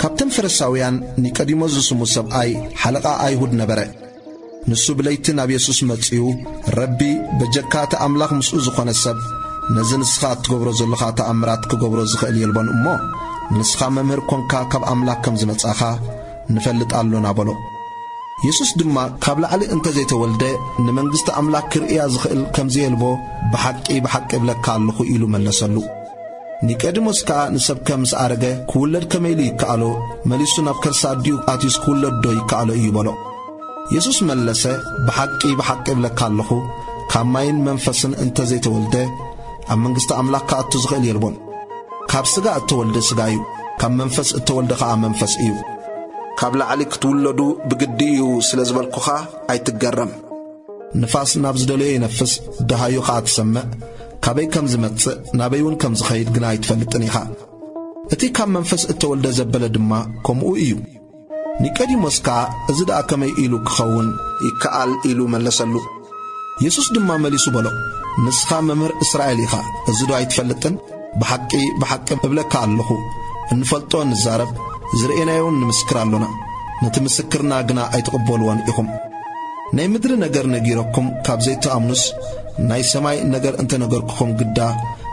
ካብተን ፈረሳውያን ኒቀዲሞስ ዝስሙ ሰብኣይ ሓለቓ ኣይሁድ ነበረ። ንሱ ብለይቲ ናብ የሱስ መጺኡ፣ ረቢ፣ በጀካ እቲ ኣምላኽ ምስኡ ዝኾነ ሰብ፣ ነዚ ንስኻ እትገብሮ ዘሎኻ ተኣምራት ክገብሮ ዝኽእል የልቦን እሞ፣ ንስኻ መምህር ኰንካ ካብ ኣምላኽ ከም ዝመጻኻ ንፈልጥ ኣሎና በሎ። የሱስ ድማ ካብ ላዕሊ እንተ ዘይተወልደ ንመንግስቲ ኣምላኽ ክርእያ ዝኽእል ከም ዘየልቦ ብሓቂ ብሓቂ እብለካ ኣሎኹ ኢሉ መለሰሉ። ኒቀዲሞስ ከኣ ንሰብከ ምስ ኣረገ ክውለድ ከመይ ኢሉ ይከኣሎ? መሊሱ ናብ ከርሲ ኣዲኡ ኣትዩስ ክውለድዶ ይከኣሎ እዩ በሎ። የሱስ መለሰ፣ ብሓቂ ብሓቂ እብለካ ኣሎኹ፣ ካብ ማይን መንፈስን እንተ ዘይተወልደ፣ ኣብ መንግስቲ ኣምላኽ ክኣቱ ዝኽእል የልቦን። ካብ ስጋ እተወልደ ስጋ እዩ፣ ካብ መንፈስ እተወልደ ኸኣ መንፈስ እዩ። ካብ ላዕሊ ክትውለዱ ብግዲ እዩ ስለ ዝበልኩኻ ኣይትገረም። ንፋስ ናብ ዝደለዮ ይነፍስ ደሃዩ ኸኣ ትሰምዕ ካበይ ከም ዝመጽእ ናበይ እውን ከም ዝኸይድ ግና ኣይትፈልጥን ኢኻ እቲ ካብ መንፈስ እተወልደ ዘበለ ድማ ከምኡ እዩ ኒቀዲሞስ ከኣ እዚ ደኣ ከመይ ኢሉ ክኸውን ይከኣል ኢሉ መለሰሉ የሱስ ድማ መሊሱ በሎ ንስኻ መምህር እስራኤል ኢኻ እዚ ዶ ኣይትፈልጥን ብሓቂ ብሓቂ እብለካ ኣለኹ እንፈልጦ ንዛረብ ዝርእናዮውን ንምስክር ኣሎና ነቲ ምስክርና ግና ኣይትቕበልዎን ኢኹም ናይ ምድሪ ነገር ነጊረኩም ካብ ዘይትኣምኑስ ናይ ሰማይ ነገር እንተ ነገርኩኹም ግዳ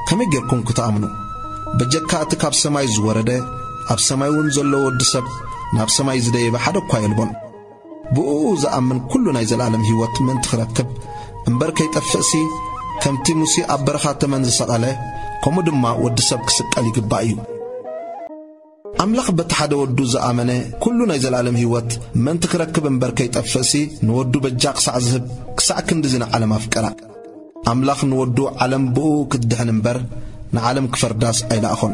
ከመይ ጌርኩም ክትኣምኑ? በጀካ እቲ ካብ ሰማይ ዝወረደ ኣብ ሰማይውን ዘሎ ወዲ ሰብ ናብ ሰማይ ዝደየበ ሓደ እኳ የልቦን። ብእኡ ዝኣምን ኩሉ ናይ ዘለኣለም ህይወት ምእንቲ ክረክብ እምበር ከይጠፍእሲ ከምቲ ሙሴ ኣብ በረኻ ተመን ዝሰቐለ ከምኡ ድማ ወዲ ሰብ ክስቀል ይግባእ እዩ። ኣምላኽ በቲ ሓደ ወዱ ዝኣመነ ኩሉ ናይ ዘለኣለም ህይወት ምእንቲ ክረክብ እምበር ከይጠፍእሲ ንወዱ በጃ ክሳዕ ዝህብ ክሳዕ ክንድዚ ንዓለም ኣፍቀራ። ኣምላኽ ንወዱ ዓለም ብእኡ ክትድሕን እምበር ንዓለም ክፈርዳስ ኣይለኣኾን።